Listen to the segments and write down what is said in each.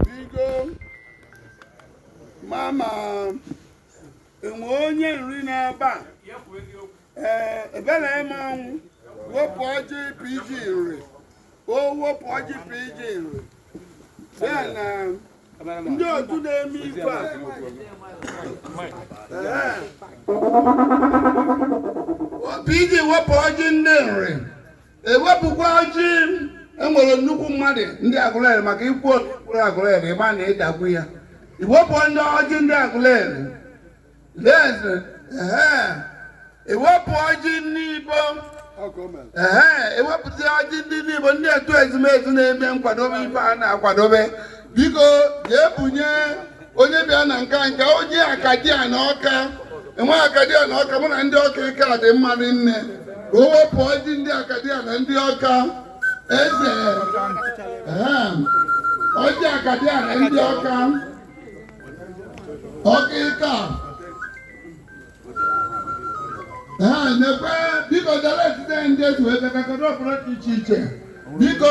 biko mama enwe onye nri n'eba ee ebela eme ọnwụ wepụ ọjị pg nri o wepụ ọjị pg nri ya na ndị otu na-eme ife a Ee. pg wepụ ọjị ndị nri ewepụkwa ọjị enwere nnukwu mmadụ ndị agụleri maka ikwu okpuru agụleri ịma na ịdagbu ya iwepụta ọjị ndị agụleri leze ehe ewepụ ọjị ndị igbo ehe ewepụta ọjị ndị ndị igbo ndị otu ezumezu na-eme nkwadobe ife a na-akwadobe biko jee bunye onye bịa na nka nka ọjị akadiana ọka enwe akadiana ọka mụ na ndị ọka ike a dị mma rinne ka o wepụ ọjị ndị akadiana ndị ọka eze ọjị akadiana ndị ọka ọka ike a ee nekwe biko dara etite ndị etu ebe kakọrọ ọpụrụ dị iche iche biko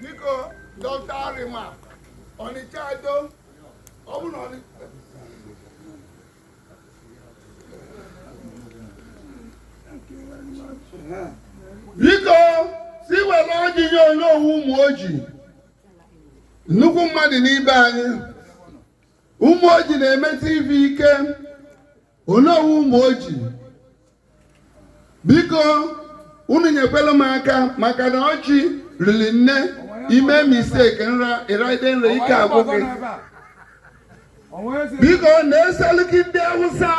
biko dọkta arịma ọnịcha ado ọ bụ na ọnị- biko si were ọjị nye onowu ụmụoji nnukwu mmadụ n'ibe anyị ụmụoji na-eme tv ike onowu ụmụoji biko unu nyekwere m aka maka na ọjị riri nne imee mistake nra ịraide nra ike agwụ gị biko nye seliki ndị awụsa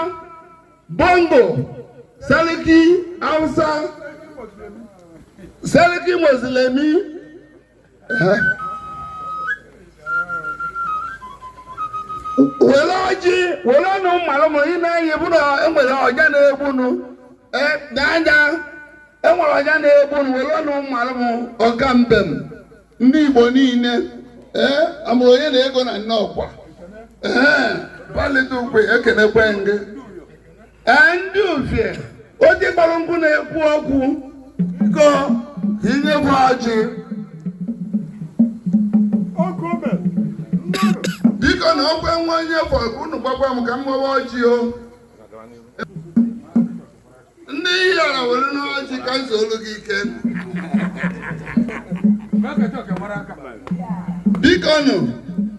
bongo seliki awụsa seliki mozilemi were ọjị were ọnụ malụ m ime anyị bụ na ewere ọja na-egbunu dada ewere ọja na-egbunu were ọnụ malụ m ọka mbem ndị igbo niile ee amụrụ onye na ego na nnọkwa ee palite ukwe ekenekwe gị Ee, ndị ufie ọjị gbara nkụ na-ekwu okwu biko ka inyekwu ọjị biko na ọkwa nwa onye fọ ka unu gbakwa m ka m gbawa ọjị o ndị yara were n'ọjị ka nso olu gị ike biko nụ